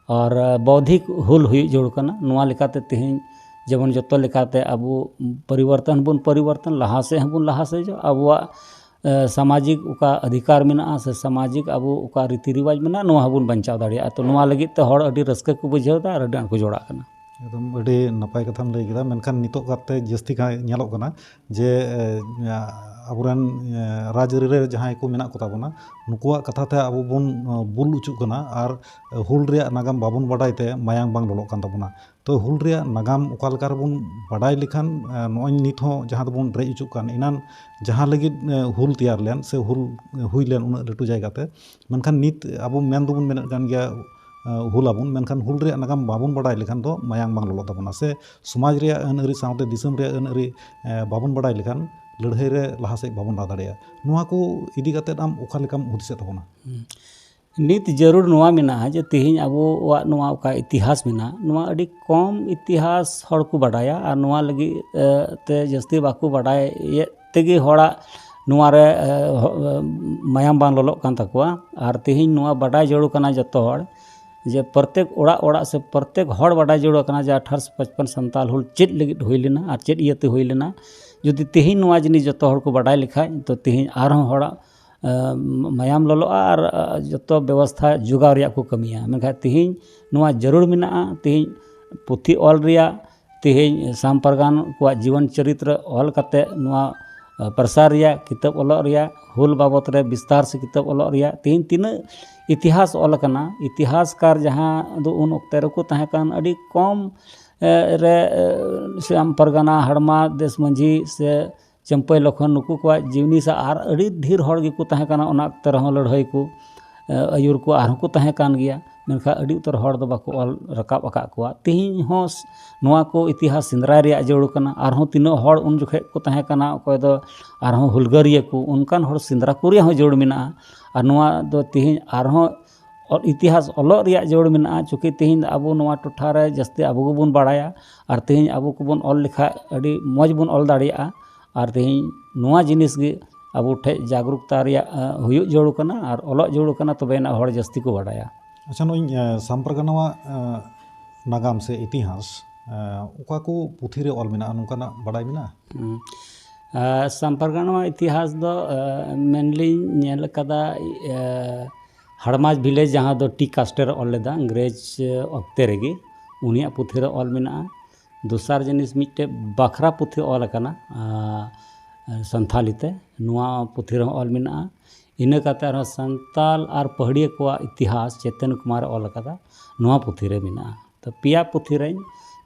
ᱟᱨ ᱵᱳᱣᱫᱷᱤᱠ ᱦᱩᱞ ᱦᱩᱭᱩᱜ ᱡᱟᱹᱨᱩᱲ ᱠᱟᱱᱟ ᱱᱚᱣᱟ ᱞᱮᱠᱟᱛᱮ ᱛᱮᱦᱮᱧ ᱡᱮᱢᱚᱱ ᱡᱚᱛᱚ ᱞᱮᱠᱟᱛᱮ ᱟᱵᱚ ᱯᱚᱨᱤᱵᱚᱨᱛᱚᱱ ᱦᱚᱸᱵᱚᱱ ᱯᱚᱨᱤᱵᱚᱨᱛᱚᱱ ᱞᱟᱦᱟ ᱥᱮᱫ ᱦᱚᱸᱵᱚᱱ ᱞᱟᱦᱟ ᱥᱮᱡᱚᱜ ᱟᱵᱚᱣᱟᱜ ᱥᱟᱢᱟᱡᱤᱠ ᱚᱠᱟ ᱚᱫᱷᱤᱠᱟᱨ ᱢᱮᱱᱟᱜᱼᱟ ᱥᱮ ᱥᱟᱢᱟᱡᱤᱠ ᱟᱵᱚ ᱚᱠᱟ ᱨᱤᱛᱤ ᱨᱮᱣᱟᱡᱽ ᱢᱮᱱᱟᱜᱼᱟ ᱱᱚᱣᱟ ᱦᱚᱸᱵᱚᱱ ᱵᱟᱧᱪᱟᱣ ᱫᱟᱲᱮᱭᱟᱜᱼᱟ ᱛᱚ ᱱᱚᱣᱟ ᱞᱟᱹᱜᱤᱫ ᱛᱮ ᱦᱚᱲ ᱟᱹᱰᱤ ᱨᱟᱹᱥᱠᱟᱹ ᱠᱚ ᱵᱩᱡᱷᱟᱹᱣ ᱮᱫᱟ ᱟᱨ ᱟᱹᱰᱤ ᱟᱸᱴ ᱠᱚ ᱡᱚᱲᱟᱜ ᱠᱟᱱᱟ ᱮᱠᱫᱚᱢ ᱟᱹᱰᱤ ᱱᱟᱯᱟᱭ ᱠᱟᱛᱷᱟᱢ ᱞᱟᱹᱭ ᱠᱮᱫᱟ ᱢᱮᱱᱠᱷᱟᱱ ᱱᱤᱛᱚᱜ ᱠᱟᱨᱛᱮ ᱡᱟᱹᱥᱛᱤ ᱠᱟᱭ ᱧᱮᱞᱚᱜ ᱠᱟᱱᱟ ᱡᱮ ᱟᱵᱚᱨᱮᱱ ᱨᱟᱡᱽ ᱟᱹᱨᱤ ᱨᱮ ᱡᱟᱦᱟᱸᱭ ᱠᱚ ᱢᱮᱱᱟᱜ ᱠᱚᱛᱟ ᱵᱚᱱᱟ ᱱᱩᱠᱩᱣᱟᱜ ᱠᱟᱛᱷᱟ ᱛᱮ ᱟᱵᱚ ᱵᱚᱱ ᱵᱩᱞ ᱚᱪᱚᱜ ᱠᱟᱱᱟ ᱟᱨ ᱦᱩᱞ ᱨᱮᱭᱟᱜ ᱱᱟᱜᱟᱢ ᱵᱟᱵᱚᱱ ᱵᱟᱰᱟᱭ ᱛᱮ ᱢᱟᱭᱟᱢ ᱵᱟᱝ ᱞᱚᱞᱚᱜ ᱠᱟᱱ ᱛᱟᱵᱚᱱᱟ ᱛᱚ ᱦᱩᱞ ᱨᱮᱭᱟᱜ ᱱᱟᱜᱟᱢ ᱚᱠᱟ ᱞᱮᱠᱟ ᱨᱮᱵᱚᱱ ᱵᱟᱰᱟᱭ ᱞᱮᱠᱷᱟᱱ ᱱᱚᱜᱼᱚᱭ ᱱᱤᱛ ᱦᱚᱸ ᱡᱟᱦᱟᱸ ᱫᱚᱵᱚᱱ ᱨᱮᱡ ᱚᱪᱚᱜ ᱠᱟᱱ ᱮᱱᱟᱱ ᱡᱟᱦᱟᱸ ᱞᱟᱹᱜᱤᱫ ᱦᱩᱞ ᱛᱮᱭᱟᱨ ᱞᱮᱱ ᱥᱮ ᱦᱩᱞ ᱦᱩᱭ ᱞᱮᱱ ᱩᱱᱟᱹᱜ ᱞᱟᱹᱴᱩ ᱡᱟᱭᱜᱟ ᱛᱮ ᱢᱮᱱᱠᱷᱟᱱ ᱱᱤᱛ ᱟᱵᱚ ᱢᱮᱱ ᱫᱚᱵᱚᱱ ᱢᱮᱱᱮᱫ ᱠᱟᱱ ᱜᱮᱭᱟ ᱦᱩᱞ ᱟᱵᱚᱱ ᱢᱮᱱᱠᱷᱟᱱ ᱦᱩᱞ ᱨᱮᱭᱟᱜ ᱱᱟᱜᱟᱢ ᱵᱟᱵᱚᱱ ᱵᱟᱰᱟᱭ ᱞᱮᱠᱷᱟᱱ ᱫᱚ ᱢᱟᱭᱟᱢ ᱵᱟᱝ ᱞᱚᱞᱚᱜ ᱛᱟᱵᱚᱱᱟ ᱥᱮ ᱥᱚᱢᱟᱡᱽ ᱨᱮᱭᱟᱜ ᱟᱹᱱ ᱟᱹᱨᱤ ᱥᱟᱶᱛᱮ ᱫᱤᱥᱚᱢ ᱨᱮᱭᱟᱜ ᱟᱹᱱ ᱟᱹᱨᱤ ᱵᱟᱵᱚᱱ ᱵᱟᱲᱟᱭ ᱞᱮᱠᱷᱟᱱ ᱞᱟᱹᱲᱦᱟᱹᱭ ᱨᱮ ᱞᱟᱦᱟ ᱥᱮᱫ ᱵᱟᱵᱚᱱ ᱞᱟᱦᱟ ᱫᱟᱲᱮᱭᱟᱜᱼᱟ ᱱᱚᱣᱟ ᱠᱚ ᱤᱫᱤ ᱠᱟᱛᱮ ᱟᱢ ᱚᱠᱟ ᱞᱮᱠᱟᱢ ᱦᱩᱫᱤᱥᱮᱫ ᱛᱟᱵᱚᱱᱟ ᱱᱤᱛ ᱡᱟᱹᱨᱩᱲ ᱱᱚᱣᱟ ᱢᱮᱱᱟᱜᱼᱟ ᱡᱮ ᱛᱮᱦᱮᱧ ᱟᱵᱚᱣᱟᱜ ᱱᱚᱣᱟ ᱚᱠᱟ ᱤᱛᱤᱦᱟᱥ ᱢᱮᱱᱟᱜᱼᱟ ᱱᱚᱣᱟ ᱟᱹᱰᱤ ᱠᱚᱢ ᱤᱛᱤᱦᱟᱥ ᱦᱚᱲ ᱠᱚ ᱵᱟᱰᱟᱭᱟ ᱟᱨ ᱱᱚᱣᱟ ᱞᱟᱹᱜᱤᱫ ᱛᱮ ᱡᱟᱹᱥᱛᱤ ᱵᱟᱠᱚ ᱵᱟᱰᱟᱭᱮᱫ ᱛᱮᱜᱮ ᱦᱚᱲᱟᱜ ᱱᱚᱣᱟ ᱨᱮ ᱢᱟᱭᱟᱢ ᱵᱟᱝ ᱞᱚᱞᱚᱜ ᱠᱟᱱ ᱛᱟᱠᱚᱣᱟ ᱟᱨ ᱛᱮᱦᱮᱧ ᱱᱚᱣᱟ ᱵᱟᱰᱟᱭ ᱡᱟᱹᱨᱩᱲ ᱠᱟᱱᱟ ᱡᱚᱛᱚ ᱦᱚᱲ ᱡᱮ ᱯᱨᱚᱛᱮᱠ ᱚᱲᱟᱜ ᱚᱲᱟᱜ ᱥᱮ ᱯᱨᱚᱛᱮᱠ ᱦᱚᱲ ᱵᱟᱰᱟᱭ ᱡᱟᱹᱨᱩᱲ ᱠᱟᱱᱟ ᱡᱮ ᱟᱴᱷᱟᱨᱚᱥᱚ ᱯᱚᱪᱯᱚᱱ ᱥᱟᱱᱛᱟᱞ ᱦᱩᱞ ᱪᱮᱫ ᱞᱟᱹᱜᱤᱫ ᱦᱩᱭ ᱞᱮᱱᱟ ᱟᱨ ᱪᱮᱫ ᱤᱭᱟᱹᱛᱮ ᱦᱩᱭ ᱞᱮᱱᱟ ᱡᱩᱫᱤ ᱛᱮᱦᱮᱧ ᱱᱚᱣᱟ ᱡᱤᱱᱤᱥ ᱡᱚᱛᱚ ᱦᱚᱲ ᱠᱚ ᱵᱟᱰᱟᱭ ᱞᱮᱠᱷᱟᱱ ᱛᱳ ᱛᱮᱦᱮᱧ ᱟᱨᱦᱚᱸ ᱦᱚᱲᱟᱜ ᱢᱟᱭᱟᱢ ᱞᱚᱞᱚᱜᱼᱟ ᱟᱨ ᱡᱚᱛᱚ ᱵᱮᱵᱚᱥᱛᱷᱟ ᱡᱳᱜᱟᱣ ᱨᱮᱭᱟᱜ ᱠᱚ ᱠᱟᱹᱢᱤᱭᱟ ᱢᱮᱱᱠᱷᱟᱱ ᱛᱮᱦᱮᱧ ᱱᱚᱣᱟ ᱡᱟᱹᱨᱩᱲ ᱢᱮᱱᱟᱜᱼᱟ ᱛᱮᱦᱮᱧ ᱯᱩᱛᱷᱤ ᱚᱞ ᱨᱮᱭᱟᱜ ᱛᱮᱦᱮᱧ ᱥᱟᱢ ᱯᱟᱨᱜᱟᱱᱟ ᱠᱚᱣᱟᱜ ᱡᱤᱭᱚᱱ ᱪᱚᱨᱤᱛ ᱨᱮ ᱚᱞ ᱠᱟᱛᱮᱫ ᱱᱚᱣᱟ ᱯᱨᱚᱥᱟᱨ ᱨᱮᱭᱟᱜ ᱠᱤᱛᱟᱹᱵ ᱚᱞᱚᱜ ᱨᱮᱭᱟᱜ ᱦᱩᱞ ᱵᱟᱵᱚᱫ ᱨᱮ ᱵᱤᱥᱛᱟᱨ ᱥᱮ ᱠᱤᱛᱟᱹᱵ ᱚᱞᱚᱜ ᱨᱮᱭᱟᱜ ᱛᱮᱦᱮᱧ ᱛᱤᱱᱟᱹᱜ ᱤᱛᱤᱦᱟᱥ ᱚᱞ ᱠᱟᱱᱟ ᱤᱛᱤᱦᱟᱥ ᱠᱟᱨ ᱡᱟᱦᱟᱸ ᱫᱚ ᱩᱱ ᱚᱠᱛᱮ ᱨᱮᱠᱚ ᱛᱟᱦᱮᱸ ᱠᱟᱱ ᱟᱹᱰᱤ ᱠᱚᱢ ᱨᱮ ᱥᱟᱢ ᱯᱟᱨᱜᱟᱱᱟ ᱦᱟᱲᱢᱟ ᱫᱮᱥ ᱢᱟᱹᱡᱷᱤ ᱥᱮ ᱪᱟᱹᱢᱯᱟᱹᱭ ᱞᱚᱠᱠᱷᱚᱱ ᱱᱩᱠᱩ ᱠᱚᱣᱟᱜ ᱡᱤᱣᱱᱤ ᱥᱮ ᱟᱨ ᱟᱹᱰᱤ ᱰᱷᱮᱨ ᱦᱚᱲ ᱜᱮᱠᱚ ᱛᱟᱦᱮᱸ ᱠᱟᱱᱟ ᱚᱱᱟ ᱚᱠᱛᱮ ᱨᱮᱦᱚᱸ ᱞᱟᱹᱲᱦᱟᱹᱭ ᱠᱚ ᱟᱹᱭᱩᱨ ᱠᱚ ᱟᱨᱦᱚᱸ ᱠᱚ ᱛᱟᱦᱮᱸ ᱠᱟᱱ ᱜᱮᱭᱟ ᱢᱮᱱᱠᱷᱟᱱ ᱟᱹᱰᱤ ᱩᱛᱟᱹᱨ ᱦᱚᱲ ᱫᱚ ᱵᱟᱠᱚ ᱚᱞ ᱨᱟᱠᱟᱵ ᱟᱠᱟᱫ ᱠᱚᱣᱟ ᱛᱮᱦᱮᱧ ᱦᱚᱸ ᱱᱚᱣᱟ ᱠᱚ ᱤᱛᱤᱦᱟᱥ ᱥᱮᱸᱫᱽᱨᱟᱭ ᱨᱮᱭᱟᱜ ᱡᱟᱹᱨᱩᱲ ᱠᱟᱱᱟ ᱟᱨᱦᱚᱸ ᱛᱤᱱᱟᱹᱜ ᱦᱚᱲ ᱩᱱ ᱡᱚᱠᱷᱚᱱ ᱠᱚ ᱛᱟᱦᱮᱸ ᱠᱟᱱᱟ ᱚᱠᱚᱭ ᱫᱚ ᱟᱨᱦᱚᱸ ᱦᱩᱞᱜᱟᱹᱨᱤᱭᱟᱹ ᱠᱚ ᱚᱱᱠᱟᱱ ᱦᱚᱲ ᱥᱮᱸᱫᱽᱨᱟ ᱠᱚ ᱨᱮᱭᱟᱜ ᱦᱚᱸ ᱡᱟᱹᱨᱩᱲ ᱢᱮᱱᱟᱜᱼᱟ ᱟᱨ ᱱᱚᱣᱟ ᱫᱚ ᱛᱮᱦᱮᱧ ᱟᱨᱦᱚᱸ ᱚᱞ ᱤᱛᱤᱦᱟᱥ ᱚᱞᱚᱜ ᱨᱮᱭᱟᱜ ᱡᱟᱹᱨᱩᱲ ᱢᱮᱱᱟᱜᱼᱟ ᱪᱩᱠᱤ ᱛᱮᱦᱮᱧ ᱫᱚ ᱟᱵᱚ ᱱᱚᱣᱟ ᱴᱚᱴᱷᱟ ᱨᱮ ᱡᱟᱹᱥᱛᱤ ᱟᱵᱚ ᱜᱮᱵᱚᱱ ᱵᱟᱲᱟᱭᱟ ᱟᱨ ᱛᱮᱦᱮᱧ ᱟᱵᱚ ᱠᱚᱵᱚᱱ ᱚᱞ ᱞᱮᱠᱷᱟᱱ ᱟᱹᱰᱤ ᱢᱚᱡᱽ ᱵᱚᱱ ᱚᱞ ᱫᱟᱲᱮᱭᱟᱜᱼᱟ ᱟᱨ ᱛᱮᱦᱮᱧ ᱱᱚᱣᱟ ᱡᱤᱱᱤᱥ ᱜᱮ ᱟᱵᱚ ᱴᱷᱮᱱ ᱡᱟᱜᱽᱨᱩᱠᱛᱟ ᱨᱮᱭᱟᱜ ᱦᱩᱭᱩᱜ ᱡᱟᱹᱨᱩᱲ ᱠᱟᱱᱟ ᱟᱨ ᱚᱞᱚᱜ ᱡᱟᱹᱨᱩᱲ ᱠᱟᱱᱟ ᱛᱚᱵᱮ ᱟᱱᱟᱜ ᱦᱚᱲ ᱡᱟᱹᱥᱛᱤ ᱠᱚ ᱵᱟᱲᱟᱭᱟ ᱟᱪᱪᱷᱟ ᱱᱚᱜᱼᱚᱭ ᱥᱟᱢ ᱯᱟᱨᱜᱟᱱᱟᱣᱟᱜ ᱱᱟᱜᱟᱢ ᱥᱮ ᱤᱛᱤᱦᱟᱥ ᱚᱠᱟ ᱠᱚ ᱯᱩᱛᱷᱤ ᱨᱮ ᱚᱞ ᱢᱮᱱᱟᱜᱼᱟ ᱱᱚᱝᱠᱟᱱᱟᱜ ᱵᱟᱲᱟᱭ ᱢᱮᱱᱟᱜᱼᱟ ᱟᱥᱟᱢ ᱯᱟᱨᱜᱟᱱᱟ ᱤᱛᱤᱦᱟᱥ ᱫᱚ ᱢᱮᱱᱞᱤᱧ ᱧᱮᱞ ᱟᱠᱟᱫᱟ ᱦᱟᱲᱢᱟᱫᱽ ᱵᱷᱤᱞᱮᱡᱽ ᱡᱟᱦᱟᱸ ᱫᱚ ᱴᱤ ᱠᱟᱥᱴᱮᱨ ᱚᱞ ᱞᱮᱫᱟ ᱤᱝᱨᱮᱡᱽ ᱚᱠᱛᱮ ᱨᱮᱜᱮ ᱩᱱᱤᱭᱟᱜ ᱯᱩᱛᱷᱤ ᱨᱮ ᱚᱞ ᱢᱮᱱᱟᱜᱼᱟ ᱫᱚᱥᱟᱨ ᱡᱤᱱᱤᱥ ᱢᱤᱫᱴᱮᱱ ᱵᱟᱠᱷᱨᱟ ᱯᱩᱛᱷᱤ ᱚᱞ ᱟᱠᱟᱱᱟ ᱥᱟᱱᱛᱷᱟᱞᱤ ᱛᱮ ᱱᱚᱣᱟ ᱯᱩᱛᱷᱤ ᱨᱮᱦᱚᱸ ᱚᱞ ᱢᱮᱱᱟᱜᱼᱟ ᱤᱱᱟᱹ ᱠᱟᱛᱮᱫ ᱟᱨᱦᱚᱸ ᱥᱟᱱᱛᱟᱲ ᱟᱨ ᱯᱟᱹᱦᱟᱹᱲᱤᱭᱟᱹ ᱠᱚᱣᱟᱜ ᱤᱛᱤᱦᱟᱥ ᱪᱮᱛᱚᱱ ᱠᱩᱢᱟᱨᱮ ᱚᱞ ᱟᱠᱟᱫᱟ ᱱᱚᱣᱟ ᱯᱩᱛᱷᱤ ᱨᱮ ᱢᱮᱱᱟᱜᱼᱟ ᱛᱚ ᱯᱮᱭᱟ ᱯᱩᱛᱷᱤ ᱨᱮᱧ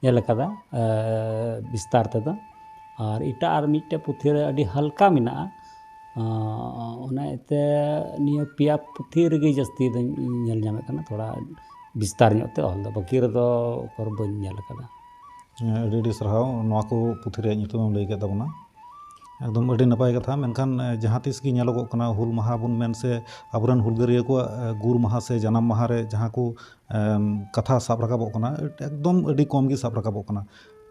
ᱧᱮᱞ ᱟᱠᱟᱫᱟ ᱵᱤᱥᱛᱟᱨ ᱛᱮᱫᱚ ᱟᱨ ᱮᱴᱟᱜ ᱟᱨ ᱢᱤᱫᱴᱮᱱ ᱯᱩᱛᱷᱤ ᱨᱮ ᱟᱹᱰᱤ ᱦᱟᱞᱠᱟ ᱢᱮᱱᱟᱜᱼᱟ ᱚᱱᱟ ᱤᱭᱟᱹᱛᱮ ᱱᱤᱭᱟᱹ ᱯᱮᱭᱟ ᱯᱩᱛᱷᱤ ᱨᱮᱜᱮ ᱡᱟᱹᱥᱛᱤ ᱫᱚᱧ ᱧᱮᱞ ᱧᱟᱢᱮᱫ ᱠᱟᱱᱟ ᱛᱷᱚᱲᱟ ᱵᱤᱥᱛᱟᱨ ᱧᱚᱜ ᱛᱮ ᱚᱞ ᱫᱚ ᱵᱟᱹᱠᱤ ᱨᱮᱫᱚ ᱩᱠᱩᱨ ᱵᱟᱹᱧ ᱧᱮᱞ ᱟᱠᱟᱫᱟ ᱟᱹᱰᱤ ᱟᱹᱰᱤ ᱥᱟᱨᱦᱟᱣ ᱱᱚᱣᱟ ᱠᱚ ᱯᱩᱛᱷᱤ ᱨᱮᱭᱟᱜ ᱧᱩᱛᱩᱢ ᱮᱢ ᱞᱟᱹᱭ ᱠᱮᱫ ᱛᱟᱵᱚᱱᱟ ᱮᱠᱫᱚᱢ ᱟᱹᱰᱤ ᱱᱟᱯᱟᱭ ᱠᱟᱛᱷᱟ ᱢᱮᱱᱠᱷᱟᱱ ᱡᱟᱦᱟᱸ ᱛᱤᱥ ᱜᱮ ᱧᱮᱞᱚᱜᱚᱜ ᱠᱟᱱᱟ ᱦᱩᱞ ᱢᱟᱦᱟ ᱵᱚᱱ ᱢᱮᱱ ᱥᱮ ᱟᱵᱚ ᱨᱮᱱ ᱦᱩᱞᱜᱟᱹᱨᱭᱟᱹ ᱠᱚᱣᱟᱜ ᱜᱩᱨ ᱢᱟᱦᱟ ᱥᱮ ᱡᱟᱱᱟᱢ ᱢᱟᱦᱟ ᱨᱮ ᱡᱟᱦᱟᱸ ᱠᱚ ᱠᱟᱛᱷᱟ ᱥᱟᱵ ᱨᱟᱠᱟᱵᱚᱜ ᱠᱟᱱᱟ ᱮᱠᱫᱚᱢ ᱟᱹᱰᱤ ᱠᱚᱢ ᱜᱮ ᱥᱟᱵ ᱨᱟᱠᱟᱵᱚᱜ ᱠᱟᱱᱟ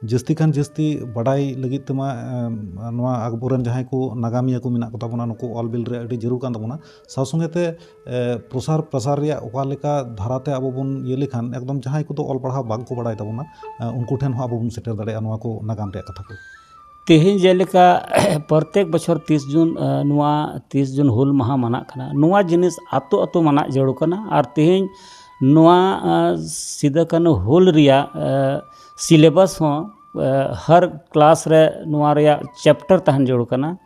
ᱡᱟᱹᱥᱛᱤ ᱠᱷᱟᱱ ᱡᱟᱹᱥᱛᱤ ᱵᱟᱰᱟᱭ ᱞᱟᱹᱜᱤᱫ ᱛᱮᱢᱟ ᱱᱚᱣᱟ ᱟᱠᱵᱚᱨ ᱨᱮᱱ ᱡᱟᱦᱟᱸᱭ ᱠᱚ ᱱᱟᱜᱟᱢᱤᱭᱟᱹ ᱠᱚ ᱢᱮᱱᱟᱜ ᱠᱚᱛᱟ ᱵᱚᱱᱟ ᱱᱩᱠᱩ ᱚᱞ ᱵᱤᱞ ᱨᱮ ᱟᱹᱰᱤ ᱡᱟᱹᱨᱩᱲ ᱠᱟᱱ ᱛᱟᱵᱚᱱᱟ ᱥᱟᱶ ᱥᱚᱸᱜᱮ ᱛᱮ ᱯᱨᱚᱥᱟᱨ ᱯᱨᱚᱥᱟᱨ ᱨᱮᱭᱟᱜ ᱚᱠᱟ ᱞᱮᱠᱟ ᱫᱷᱟᱨᱟ ᱛᱮ ᱟᱵᱚ ᱵᱚᱱ ᱤᱭᱟᱹ ᱞᱮᱠᱷᱟᱱ ᱮᱠᱫᱚᱢ ᱡᱟᱦᱟᱸᱭ ᱠᱚᱫᱚ ᱚᱞ ᱯᱟᱲᱦᱟᱣ ᱵᱟᱝ ᱠᱚ ᱵᱟᱲᱟᱭ ᱛᱟᱵᱚᱱᱟ ᱩᱱᱠᱩ ᱴᱷᱮᱱ ᱦᱚᱸ ᱟᱵᱚ ᱵᱚᱱ ᱥᱮᱴᱮᱨ ᱫᱟᱲᱮᱭᱟᱜᱼᱟ ᱱᱚᱣᱟ ᱠᱚ ᱱᱟᱜᱟᱢ ᱨᱮᱭᱟᱜ ᱠᱟᱛᱷᱟ ᱠᱚ ᱛᱮᱦᱮᱧ ᱡᱮᱞᱮᱠᱟ ᱯᱨᱚᱛᱮᱠ ᱵᱚᱪᱷᱚᱨ ᱛᱤᱨᱤᱥ ᱡᱩᱱ ᱱᱚᱣᱟ ᱛᱤᱨᱤᱥ ᱡᱩᱱ ᱦᱩᱞ ᱢᱟᱦᱟ ᱢᱟᱱᱟᱜ ᱠᱟᱱᱟ ᱱᱚᱣᱟ ᱡᱤᱱᱤᱥ ᱟᱹᱛᱩ ᱟᱹᱛᱩ ᱢᱟᱱᱟᱜ ᱡᱟᱹᱨᱩᱲ ᱠᱟᱱᱟ ᱟᱨ ᱛᱮᱦᱮᱧ ᱱᱚᱣᱟ ᱥᱤᱫᱩ ᱠᱟᱹᱱᱦᱩ ᱦᱩᱞ ᱨᱮᱭᱟᱜ ᱥᱤᱞᱮᱵᱟᱥ ᱦᱚᱸ ᱦᱟᱨ ᱠᱞᱟᱥ ᱨᱮ ᱱᱚᱣᱟ ᱨᱮᱭᱟᱜ ᱪᱮᱯᱴᱟᱨ ᱛᱟᱦᱮᱱ ᱡᱟᱹᱨᱩᱲ ᱠᱟᱱᱟ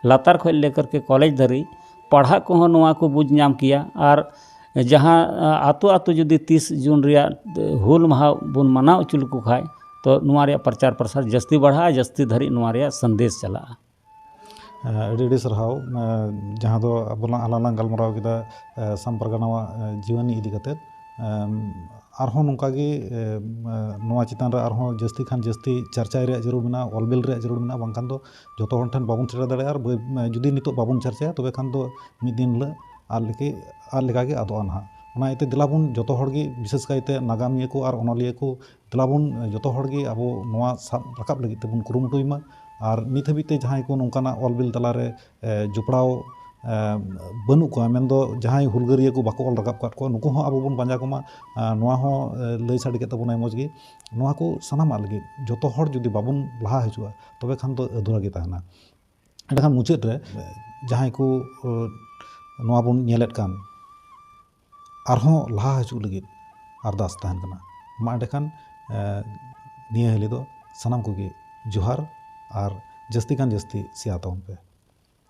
ᱞᱟᱛᱟᱨ ᱠᱷᱚᱱ ᱞᱮ ᱠᱟᱨᱠᱮ ᱠᱚᱞᱮᱡᱽ ᱫᱷᱟᱹᱵᱤᱡ ᱯᱟᱲᱦᱟᱜ ᱠᱚᱦᱚᱸ ᱱᱚᱣᱟ ᱠᱚ ᱵᱩᱡᱽ ᱧᱟᱢ ᱠᱮᱭᱟ ᱟᱨ ᱡᱟᱦᱟᱸ ᱟᱹᱛᱩ ᱟᱹᱛᱩ ᱡᱩᱫᱤ ᱛᱤᱥ ᱡᱩᱱ ᱨᱮᱭᱟᱜ ᱦᱩᱞ ᱢᱟᱦᱟ ᱵᱚᱱ ᱢᱟᱱᱟᱣ ᱦᱚᱪᱚ ᱞᱮᱠᱚ ᱠᱷᱟᱱ ᱛᱳ ᱱᱚᱣᱟ ᱨᱮᱭᱟᱜ ᱯᱨᱚᱪᱟᱨ ᱯᱨᱚᱥᱟᱨ ᱡᱟᱹᱥᱛᱤ ᱵᱟᱲᱦᱟᱜᱼᱟ ᱡᱟᱹᱥᱛᱤ ᱫᱷᱟᱹᱨᱤᱡ ᱱᱚᱣᱟ ᱨᱮᱭᱟᱜ ᱥᱟᱸᱫᱮᱥ ᱪᱟᱞᱟᱜᱼᱟ ᱟᱹᱰᱤ ᱟᱹᱰᱤ ᱥᱟᱨᱦᱟᱣ ᱡᱟᱦᱟᱸ ᱫᱚ ᱟᱵᱚ ᱞᱟᱝ ᱟᱞᱟᱝ ᱞᱟᱝ ᱜᱟᱞᱢᱟᱨᱟᱣ ᱠᱮᱫᱟ ᱟᱥᱟᱢ ᱯᱟᱨᱜᱟᱱᱟ ᱟᱜ ᱡᱤᱭᱚᱱᱤ ᱤᱫᱤ ᱠᱟᱛᱮᱫ ᱟᱨᱦᱚᱸ ᱱᱚᱝᱠᱟ ᱜᱮ ᱱᱚᱣᱟ ᱪᱮᱛᱟᱱ ᱨᱮ ᱟᱨᱦᱚᱸ ᱡᱟᱹᱥᱛᱤ ᱠᱷᱚᱱ ᱡᱟᱹᱥᱛᱤ ᱪᱟᱨᱪᱟᱭ ᱨᱮᱭᱟᱜ ᱡᱟᱹᱨᱩᱲ ᱢᱮᱱᱟᱜᱼᱟ ᱚᱞ ᱵᱤᱞ ᱨᱮᱭᱟᱜ ᱡᱟᱹᱨᱩᱲ ᱢᱮᱱᱟᱜᱼᱟ ᱵᱟᱝᱠᱷᱟᱱ ᱫᱚ ᱡᱚᱛᱚ ᱦᱚᱲ ᱴᱷᱮᱱ ᱵᱟᱵᱚᱱ ᱥᱮᱴᱮᱨ ᱫᱟᱲᱮᱭᱟᱜᱼᱟ ᱟᱨ ᱡᱩᱫᱤ ᱱᱤᱛᱚᱜ ᱵᱟᱵᱚᱱ ᱪᱟᱨᱪᱟᱭᱟ ᱛᱚᱵᱮ ᱠᱷᱟᱱ ᱫᱚ ᱢᱤᱫ ᱫᱤᱱ ᱦᱤᱞᱳᱜ ᱟᱫ ᱞᱮᱠᱟ ᱟᱫ ᱞᱮᱠᱟ ᱜᱮ ᱟᱫᱚᱜᱼᱟ ᱱᱟᱦᱟᱜ ᱚᱱᱟ ᱤᱭᱟᱹᱛᱮ ᱫᱮᱞᱟ ᱵᱚᱱ ᱡᱚᱛᱚ ᱦᱚᱲ ᱜᱮ ᱵᱤᱥᱮᱥ ᱠᱟᱭᱛᱮ ᱱᱟᱜᱟᱢᱤᱭᱟᱹ ᱠᱚ ᱟᱨ ᱚᱱᱚᱞᱤᱭᱟᱹ ᱠᱚ ᱫᱮᱞᱟ ᱵᱚᱱ ᱡᱚᱛᱚ ᱦᱚᱲ ᱜᱮ ᱟᱵᱚ ᱱᱚᱣᱟ ᱥᱟᱵ ᱨᱟᱠᱟᱵ ᱞᱟᱹᱜᱤᱫ ᱛᱮᱵᱚᱱ ᱠᱩᱨᱩᱢᱩᱴᱩᱭ ᱢᱟ ᱟᱨ ᱱᱤᱛ ᱦᱟᱹᱵᱤᱡ ᱛᱮ ᱡᱟᱦᱟᱸᱭ ᱠᱚ ᱱᱚᱝᱠᱟᱱᱟᱜ ᱚᱞ ᱵᱤᱞ ᱛᱟᱞᱟ ᱨᱮ ᱡᱚᱯᱲᱟᱣ ᱵᱟᱹᱱᱩᱜ ᱠᱚᱣᱟ ᱢᱮᱱ ᱫᱚ ᱡᱟᱦᱟᱸᱭ ᱦᱩᱞᱜᱟᱹᱨᱤᱭᱟᱹ ᱠᱚ ᱵᱟᱠᱚ ᱚᱞ ᱨᱟᱠᱟᱵ ᱟᱠᱟᱫ ᱠᱚᱣᱟ ᱱᱩᱠᱩ ᱦᱚᱸ ᱟᱵᱚ ᱵᱚᱱ ᱯᱟᱸᱡᱟ ᱠᱚᱢᱟ ᱟᱨ ᱱᱚᱣᱟ ᱦᱚᱸ ᱞᱟᱹᱭ ᱥᱟᱰᱮ ᱠᱮᱜ ᱛᱟᱵᱚᱱᱟᱭ ᱢᱚᱡᱽ ᱜᱮ ᱱᱚᱣᱟ ᱠᱚ ᱥᱟᱱᱟᱢᱟᱜ ᱞᱟᱹᱜᱤᱫ ᱡᱚᱛᱚ ᱦᱚᱲ ᱡᱩᱫᱤ ᱵᱟᱵᱚᱱ ᱞᱟᱦᱟ ᱦᱤᱡᱩᱜᱼᱟ ᱛᱚᱵᱮ ᱠᱷᱟᱱ ᱫᱚ ᱟᱫᱷᱩᱨᱟ ᱜᱮ ᱛᱟᱦᱮᱱᱟ ᱮᱱᱰᱮ ᱠᱷᱟᱱ ᱢᱩᱪᱟᱹᱫ ᱨᱮ ᱡᱟᱦᱟᱸᱭ ᱠᱚ ᱱᱚᱣᱟ ᱵᱚᱱ ᱧᱮᱞᱮᱫ ᱠᱟᱱ ᱟᱨᱦᱚᱸ ᱞᱟᱦᱟ ᱦᱤᱡᱩᱜ ᱞᱟᱹᱜᱤᱫ ᱟᱨᱫᱟᱥ ᱛᱟᱦᱮᱱ ᱠᱟᱱᱟ ᱢᱟ ᱮᱱᱰᱮ ᱠᱷᱟᱱ ᱱᱤᱭᱟᱹ ᱦᱤᱞᱤ ᱫᱚ ᱥᱟᱱᱟᱢ ᱠᱚᱜᱮ ᱡᱚᱦᱟᱨ ᱟᱨ ᱡᱟᱹᱥᱛᱤ ᱠᱷᱟᱱ ᱡᱟᱹᱥᱛᱤ ᱥᱮᱭᱟᱨ ᱛᱟᱵᱚᱱ ᱯᱮ